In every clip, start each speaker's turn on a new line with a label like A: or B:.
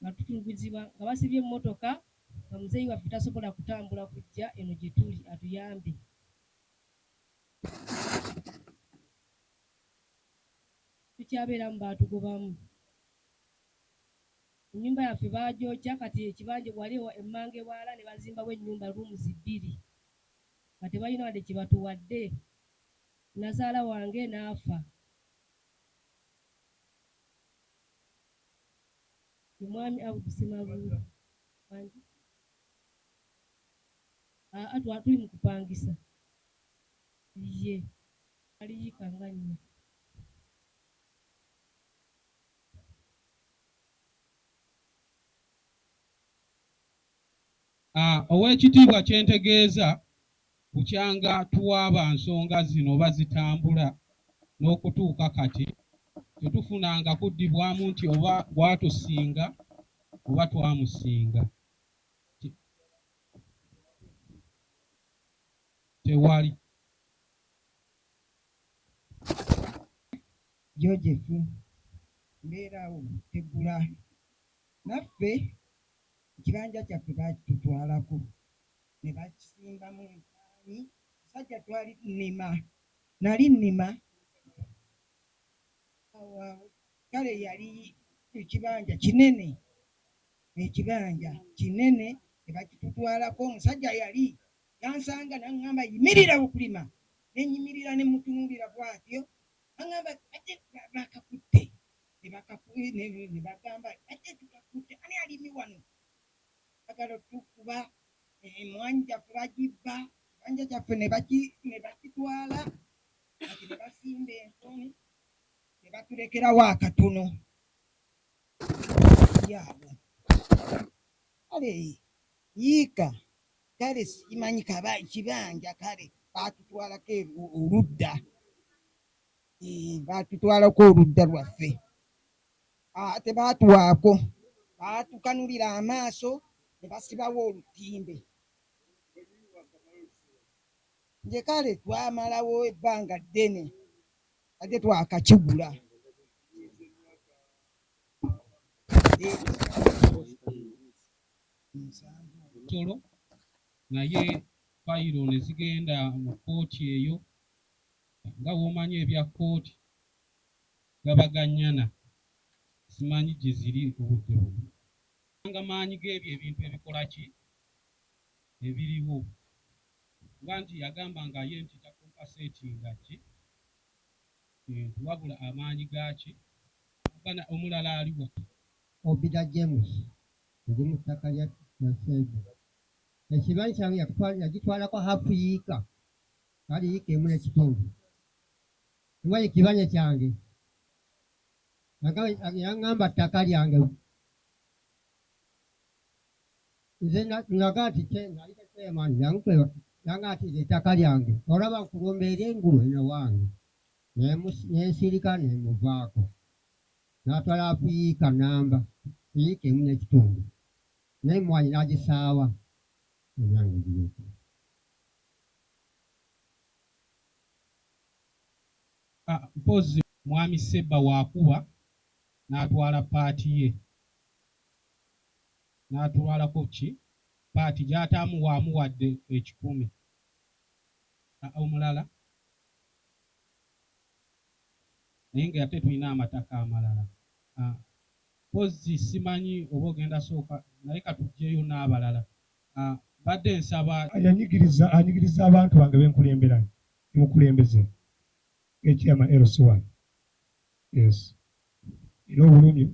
A: nga tutulugunyizibwa nga basibye emmotoka nga muzeeyi waffe tasobola kutambula kujja eno gye tuli atuyambe. Tukyabeeramu baatugobamu. Ennyumba yaffe baagyokya kati ekibanja wali emmanga ewalala ne bazimbawo ennyumba rooms bbiri nga tebalina wadde kye batuwadde nnazaala wange n'afa. Ye mwami Abdu Ssemabuule wangi? Aa twa tuli mu kupangisa. Yye ali yika nga nnya.
B: Aa Ow'ekitiibwa kye ntegeeza Bukyanga tuwaaba nsonga zino oba zitambula n'okutuuka kati tetufunanga kuddibwamu nti oba gwatusinga oba twamusinga. Tewali.
C: Joseph, mbeerawo Tegula. Naffe ekibanja kyaffe baakitutwalako. ne bakisimbamu entaani omusajja twali tunima nali nnima awo awo kale yali ekibanja kinene ekibanja kinene ne bakitutwalako omusajja yali yansanga n'aŋŋamba yimirira okulima ne nyimirira ne mutunuulira bw'atyo aŋŋamba ate baakakutte ne bagamba ate tukakutte ani alimi wano Bagala otukuba emwanyi jaffe bajibba ebanja jaffe nebakitwala kati nebasimba ensoni nebatulekerawo akatono yabo kale yiika kale simanyi kaba kibanja kale batutwalako oludda batutwalako oludda lwaffe Ate baatuwaako, baatukanulira amaaso ne basibawo olutimbe. Nge kale twamalawo ebbanga ddene nga tetwakakigula.
B: Tolo naye fayiro ne zigenda mu kkooti eyo nga bw'omanyi ebya kkooti. gabaga nnyana simanyi gye ziri obudde buno. Kubanga maanyi g'ebyo ebintu ebikola ki? ebiriwo. Kuba nti yagamba nga ye nti ta compasetinga ki? kintu wabula amaanyi ga ki? Omuganda omulala ali wa? Obida
D: James, ndi mu ttaka lya Nanseve. Ekibanyi kyange yakitwala yagitwalako half yiika, kale yiika emu n'ekitundu. Simanyi kibanja kyange. Yagamba, yaŋŋamba ttaka lyange. Nze na, nagamba nti kye, nali tekyemani, jangu kwebaka. Yangamba nti nze ettaka lyange, olaba nkulumba eri engulu eno ewange. Ne mus- ne nsirika ne muvaako. N'atwala afu yiika nnamba, yiika emu n'ekitundu. N'emmwanyi n'agisaawa. Ebyange bireke.
B: Mpozzi mwami sebba wakuba natwala part ye natwalako ki part gyataamu wamuwadde ekikumi omulala naye nga ate tulina amataka amalala mpozzi simanyi oba ogenda sooka naye katujjeyo nabalala mbadde nsaba. Yanyigiriza, anyigiriza
E: abantu bange be nkulembera, ne mukulembeze nga ekyama LC wano. Yes. Nina obulumi,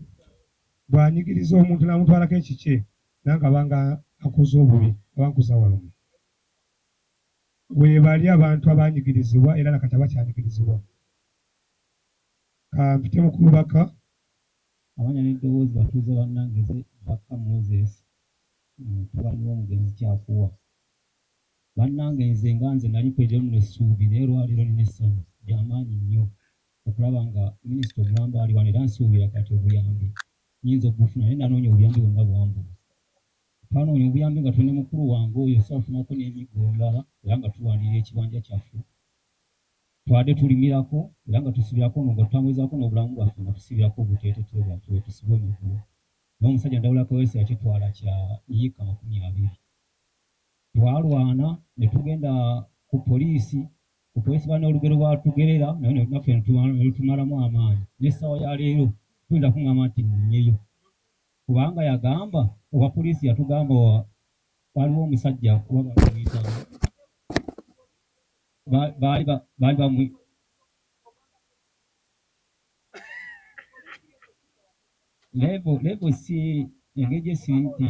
E: bw'anyigiriza omuntu n'amutwalako ekikye, nange aba nga ankoze obubi, aba ankuza walumbe. Weebali abantu abaanyigirizibwa era na kati abakyanyigirizibwa. Ka mpitemu ku bubaka. Amanya
F: n'eddoboozi batuuze bannange ze bakka Moses. Mutabani w'omugenzi Kyakuwa. Bannange nze nga nze nali kwejja luno essuubi naye olwaleero nina essanyu lyamaanyi nnyo okulaba nga Minisita omulamba ali wano era nsuubira kati obuyambi nyinza okubufuna naye nanoonya obuyambi bwonna bwambula. Twanoonya obuyambi nga tuli ne mukulu wange oyo so afunako n'emiggo emirala era nga tulwanirira ekibanja kyaffe twade tulimirako era nga tusibirako ono nga tutambulizaako n'obulamu bwaffe nga tusibirako obuteeteteyi bwaffe bwetusiba emiggo. N'omusajja Ndawula Kaweesi yakitwala kya yiika makumi abiri. Twalwana ne tugenda ku poliisi, ku poliisi baalina olugero lwe baatugerera naye ne naffe ne tu, ne lutumalamu amaanyi. N'essaawa ya leero toyinza kungamba nti nnonyeyo kubanga yagamba, owa poliisi yatugamba wa, waaliwo omusajja oba baali bamuyita ani, ba, baali ba, baali bamu, Level level si engeri gye si nti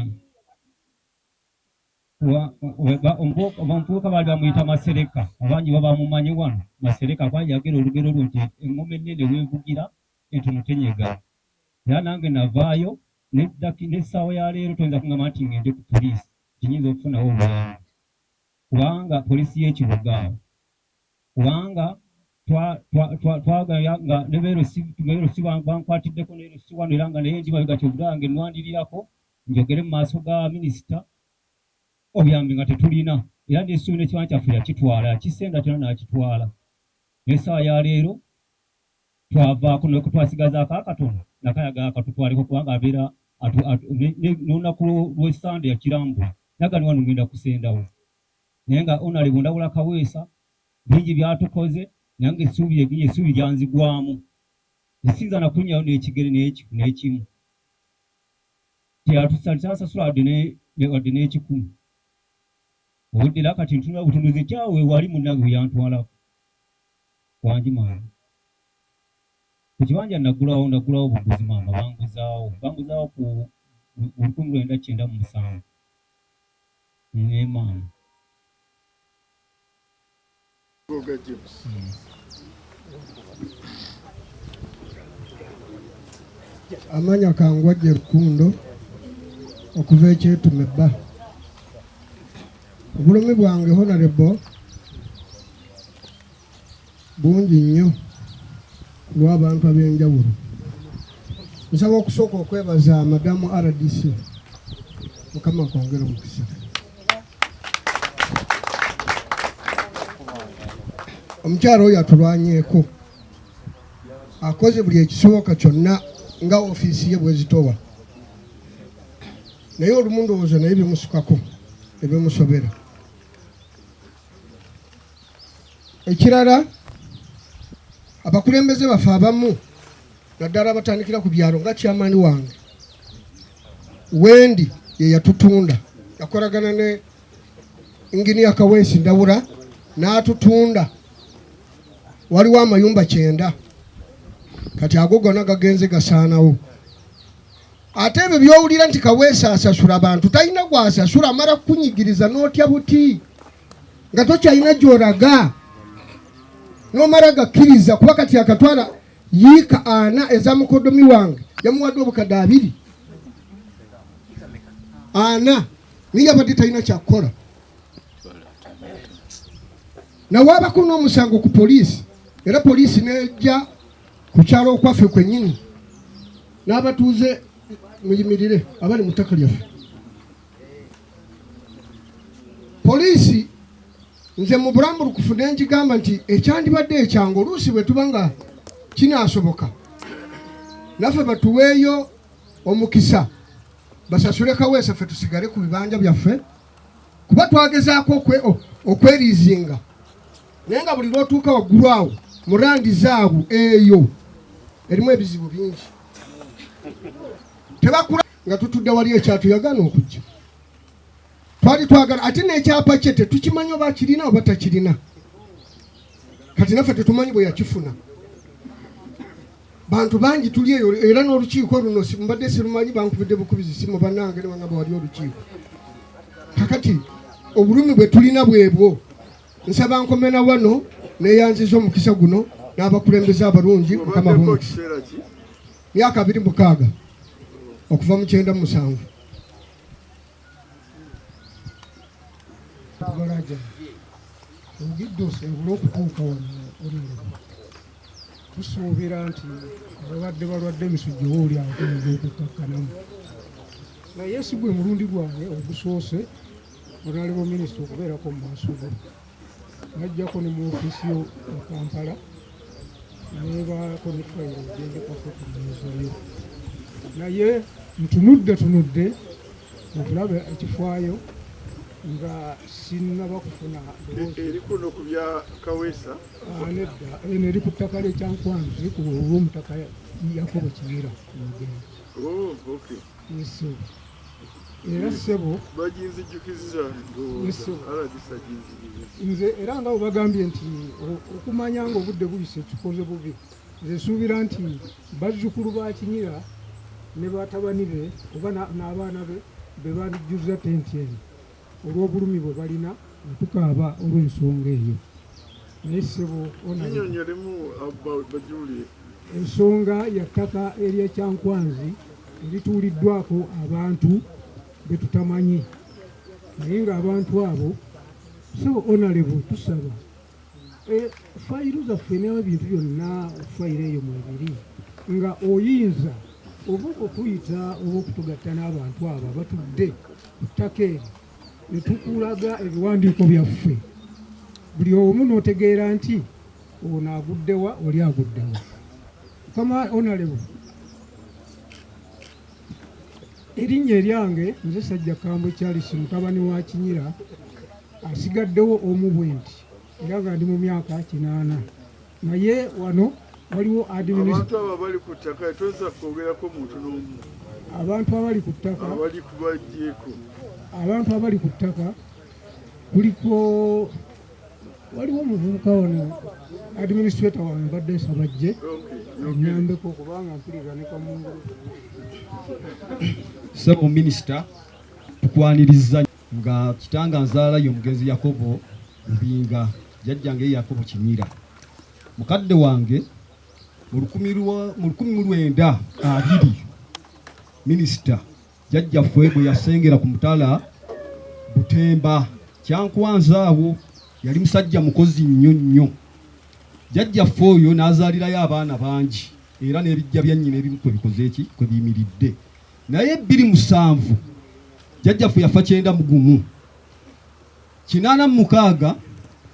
F: omuvubuka baali bamuyita Masereka abangi baba mumanyi wano Masereka kuba yagera olugero lwo nti engoma ennene weevugira entono tenyega era nange navaayo n'essaawa ya leero toyinza kungamba nti ngende ku poliisi kinyinza okufunawo obulamu kubanga poliisi y'ekibuga kubanga twagaya nga ne beerosi bankwatiddeko neerosi wano era nga naye ndi mabega kyogera wange nwandirirako njogere mu maaso ga minisita obuyambi nga tetulina era nesuubi nekiwana kyaffe yakitwala yakisenda kyona nakitwala nesaawa ya leero twavaako naye kutwasigazaako akatono nakayaga akatutwaleko kubanga abeera nolunaku lwesande yakirambula nagani wano ngenda kusendawo naye nga Honorable Ndawula Kaweesa bingi byatukoze nange essuubi essuubi lyanzigwamu ne siyinza na kunnyayo n'ekigere n'ekiku n'ekimu teyatusasasula wadde ne ne wadde n'ekikumi obudde era kati ntunula butunuzi nti awo wali munnange we yantwalako wangi maama ku kibanja nagulawo nagulawo buguzi maama banguzaawo banguzaawo ku lukumi lwenda kyenda mu musanvu
G: Amanya kangwa gye rukundo okuva ekyetume bba obulumi bwange honarebo bungi nnyo ku lw'abantu ab'enjawulo. Nsaba okusooka okwebaza madamu RDC mukama kwongera omukisa. Omukyala oyo atulwanyeeko akoze buli ekisoboka kyonna nga ofiisi ye bwezitowa naye olumu ndowooza naye bimusukako ebimusobera ekirala abakulembeze baffe abamu naddala abatandikira ku byalo nga kyamaani wange wendi ye yatutunda yakolagana ne inginiya kaweesi ndawula n'atutunda waliwo amayumba kyenda kati ago gona gagenze gasaanawo ate ebyo byowulira nti kaweesa asasula bantu talina gwasasula amala kukunyigiriza n'otya buti nga tokyalina gyoraga nomala gakkiriza kuba kati akatwala yiika ana eza mukodomi wange yamuwadde obukadde abiri ana naye yabadde talina kyakukola nawaabako n'omusango ku poliisi era poliisi nejja ku kyalo okwaffe kwennyini n'abatuuze muyimirire abali mu ttaka lyaffe poliisi nze mu bulambulukufu ne ngigamba nti ekyandibadde ekyangu oluusi bwe tuba nga kinaasoboka naffe batuweeyo omukisa basasule kaweesa ffe tusigale ku bibanja byaffe kuba twagezaako okweriizinga naye nga buli lwotuuka waggulu awo mu randi zaabu eyo erimu ebizibu bingi tebakula nga tutudde wali ekyatu yagaana okujja twali twagala ate n'ekyapa kye tetukimanyi oba kirina oba takirina kati naffe tetumanyi bwe yakifuna bantu bangi tuli eyo era n'olukiiko luno mbadde sirumanyi bankubidde bukubizi simu banange nebangamba wali olukiiko kakati obulumi bwe tulina bwebwo nsaba nkomena wano neyanziza omukisa guno n'abakulembeze abalungi mukama bungi myaka abiri mukaaga okuva mu kyenda musanvu Balaja ogidde osobole okutuuka wano olireba tusuubira nti ababadde balwadde emisujja oba oli agenza okukkakkanamu naye
E: si gwe mulundi gwange ogusoose onalebo minisita okubeerako mu maaso go bajjako ne mu ofisi yo mu kampala nebaako ne fayiro gyendekako ku mmeeza yo naye ntunudde tunudde okulaba ekifaayo nga sinnaba kufuna eri kuno
H: ku bya kaweesa ah, nedda
E: eno eri ku ttaka lyekyankwanzi ku olwomutaka yakobo kibira mugenda oh,
H: yesu
E: era ssebo baginzijukizza
H: ndowooza aladisa
E: ginzijukizza nze era nga webagambye nti okumanya nga obudde buyise kikoze bubi nze suubira nti bazzukulu ba kinyira ne batabani be oba n'abaana be be bandijjuzza tenti eno olw'obulumi bwe balina ne tukaaba olw'ensonga eyo naye ssebo onyonyolemu
H: bajulie ensonga
E: ya ttaka ery'ekyankwanzi erituuliddwako abantu be tutamanyi naye ng'abantu abo ssebo onalebu tusaba Eh, fayiru zaffe n'ebintu byonna fayiro eyo mwebiri nga oyinza oba okutuyita oba okutugatta n'abantu abo abatudde ku ttaka eri ne tukulaga ebiwandiiko byaffe buli omu n'otegeera nti ono aguddewa oli aguddewa kama onalewo Erinnya eryange nze Sajja Kambo Charles mutabani wa Kinyira asigaddewo omu bwe nti era nga ndi mu myaka kinaana naye wano waliwo abantu abo abali ku ttaka
H: toyinza kwogerako muntu n'omu abantu abali
E: ku ttaka abali
H: kubajjeeko abantu
E: abali ku ttaka kuliko waliwo omuvubuka wano administrator wano mbadde nsaba jje nyambeko kubanga mpulira ne kamungu
I: sebo minisita tukwaniriza nga kitanga nzaala ye omugenzi yakobo lubinga jajjange ye yakobo kimira mukadde wange mu lukumi mu lwenda abiri minisita Jjajjaffe bwe yasengera ku mutala Butemba kyankwanza awo yali musajja mukozi nnyo nnyo. Jjajjaffe oyo n'azaalirayo abaana bangi era n'ebijja bya nnyina ebimu kwe bikoze ki kwe biyimiridde. Naye bbiri musanvu jjajjaffe yafa kyenda mu gumu. Kinaana mu mukaaga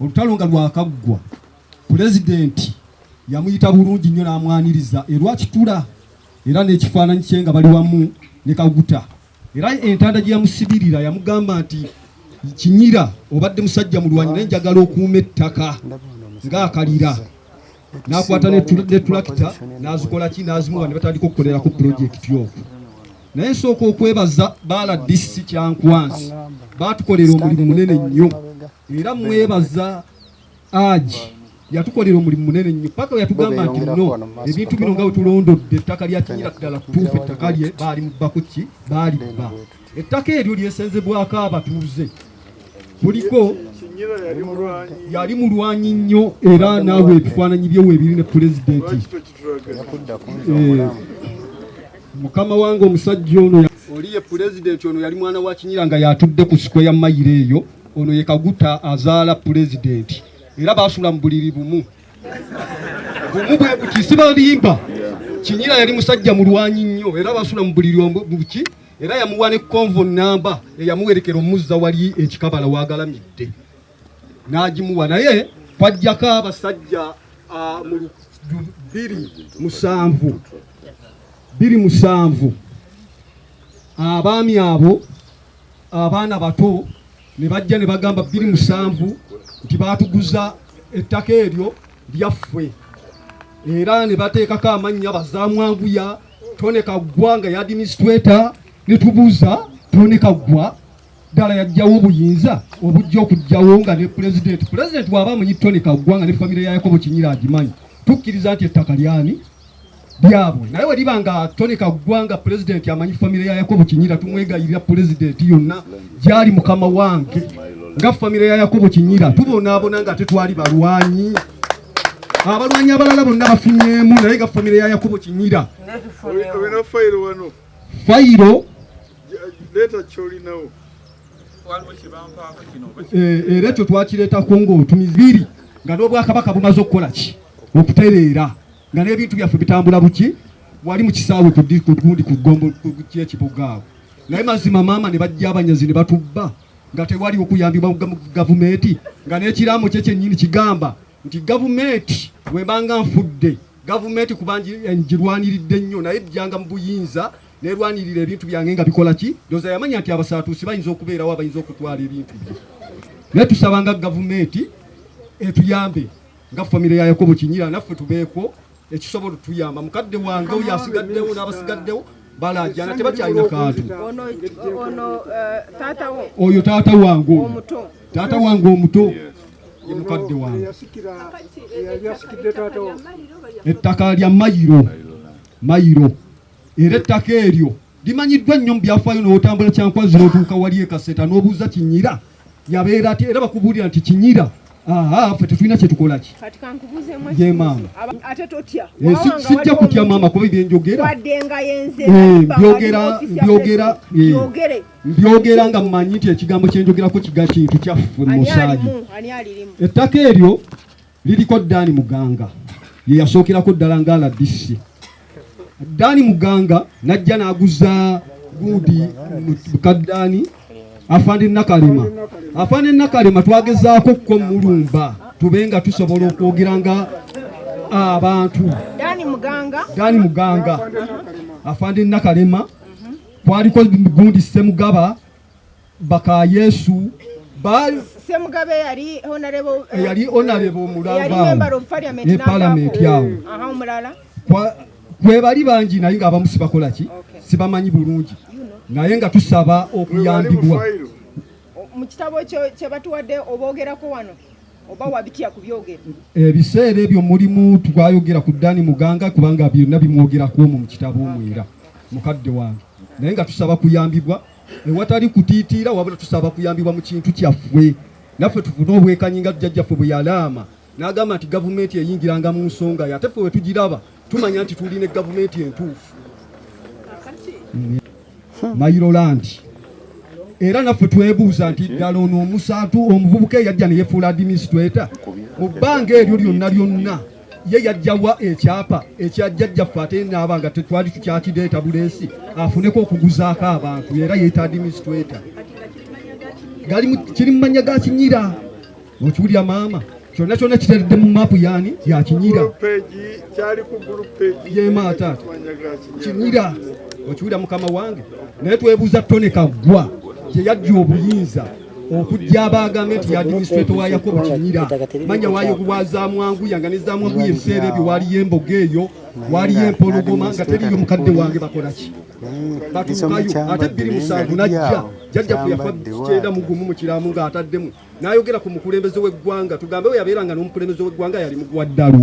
I: olutalo nga lwakaggwa, pulezidenti yamuyita bulungi nnyo n'amwaniriza erwakitula era n'ekifaananyi kye nga bali wamu ne kaguta era entanda gye yamusibirira yamugamba nti kinyira obadde musajja mulwanyi naye njagala okuuma ettaka ng'akalira n'akwata netulakita n'azikola ki n'azimuwa ne batandika okukolera ku pulojekiti oku naye nsooka okwebaza baala disi kyankwansi baatukolera omulimu munene nnyo era mwebaza Aji yatukolera omulimu munene nnyo paka yatugamba nti no ebintu bino nga wetulondodde ettaka lya kinyira ddala kutuufu ettaka lye baali mubakuki baalibba ettaka eryo lyesenzebwako abatuuze kuliko yali mulwanyi nnyo era naawe ebifaananyi byewo ebiri ne pulezidenti eh, mukama wange omusajja ono oli ye pulezidenti ono yali mwana wa kinyira nga yatudde ku sikwe ya mayiro eyo Ono ye Kaguta azaala pulezidenti era baasula mu buliri bumu bumu bwe buti sibalimba kinyira yali musajja mulwanyi nnyo era baasula mu buliri buki era yamuwa ne konvo namba eyamuwerekera omuzza wali ekikabala wagalamidde n'agimuwa naye kwajjako abasajja mu biri musanvu biri musanvu abaami abo abaana bato ne bajja ne bagamba bbiri musanvu nti baatuguza ettaka eryo lyaffwe era ne bateekako amannya bazamwanguya tone kaggwa nga yadministrator ne tubuuza tone kaggwa ddala yajjawo obuyinza obujja okujjawo nga ne pulezidenti pulezidenti waaba amanyi tone kaggwa nga ne famire ya yakobo kinyira agimanyi tukkiriza nti ettaka lyani byabwe naye weliba nga Tony Kaggwa nga pulezidenti amanyi famire ya Yakobo Kinyira tumwegayirira pulezidenti yonna gyali mukama wange nga famire ya Yakobo Kinyira tubonaabona nga ate twali balwanyi abalwanyi abalala bonna bafunyeemu naye nga famire ya Yakobo Kinyira fayiro eh, era ekyo twakireetako ng'otumizi biri nga n'obwakabaka bumaze okukola ki okutereera nga n'ebintu byaffe bitambula buki wali mu kisaawe ku gundi ku gombo kyekibuga awo naye mazima maama ne bajja abanyazi ne batubba nga tewali okuyambibwa mu gavumenti nga n'ekiraamo kye kyennyini kigamba nti gavumenti webanga nfudde gavumenti kuba ngirwaniridde nnyo naye jjanga mu buyinza nerwanirira ebintu byange nga bikola ki ndoza yamanya nti abasaatuusi bayinza okubeerawo abayinza okutwala ebintu bye naye tusabanga gavumenti etuyambe nga famire ya yakobo kinyira naffe tubeeko ekisobola otuyamba mukadde wange oyo asigaddewo n'abasigaddewo balajana tebakyalina kantu eh, oyo taata wange taata wange omuto ye mukadde wange ettaka lya mayiro mayiro era ettaka eryo Limanyiddwa nnyo mu byafaayo n'otambula kyankwanzi n'otuuka wali e Kaseta n'obuuza Kinyira yabeera ati era bakubuulira nti Kinyira ffe tetulina kyetukola ki ye maama sijja kutya maama kuba ebyenjogera byogera byogera mbyogera nga mmanyi nti ekigambo kyenjogerako kiga kintu kyaffe musaayi ettaka eryo liriko Daani Muganga ye yasookerako ddala nga rdc. Daani Muganga n'ajja n'aguza guudi buka Daani afande Nakalema. Afande Nakalema twagezaako okukomulumba tube nga tusobola okwogera nga abantu. Daani Muganga, Daani Muganga afande Nakalema kwaliko gundi Ssemugaba baka yesu
J: semugabe
I: yali honorable eh, yali honorable ne parliament yawo kwebali bangi naye nga abamu sibakola ki sibamanyi bulungi naye nga tusaba okuyambibwa
J: mu kitabo kyebatuwadde obogerako wano oba wabitya kubyogera ebiseera ebyo
I: mulimu twayogera ku dani muganga kubanga byonna bimwogerako omu mu kitabo omwera mukadde wange naye nga tusaba kuyambibwa ewatali kutiitiira wabula tusaba kuyambibwa mu kintu kyaffe naffe tufune obwekanyi nga jjajjaffe bwe yalaama n'agamba nti gavumenti eyingiranga mu nsonga ye ate ffe we tugiraba tumanya nti tuli ne gavumenti entuufu mayirolandi era naffe twebuuza nti ddala ono omusaatu omuvubuka eyajja ne yefuula administrator mu bbanga eryo lyonna lyonna ye yajjawa ekyapa ekya jjajjaffe ate naaba nga tetwali tukyakideeta buleesi afuneko okuguzaako abantu era yetadimistweta kiri mumanya ga kinyira okiwulira maama kyonna kyonna kiteredde mu maapu yani yakinyira yemaata kinyira okiwulira mukama wange naye twebuuza tone kaggwa gyeyajja obuyinza okujja abaagambe nti yadiminisitreto wa yakobo kinyira manya waayo kuwa zamwanguya nga ne zamwanguya ebiseera ebyo waaliyo emboga eyo waaliyo empologoma nga teriyo mukadde wange bakolaki batuukayo ate bbiri musanvu najja jajjaffe yafa kyenda mugumu mu kiramu ng'ataddemu n'ayogera ku mukulembeze w'eggwanga tugambe we yabeera nga n'omukulembeze w'eggwanga yali mugwa ddalu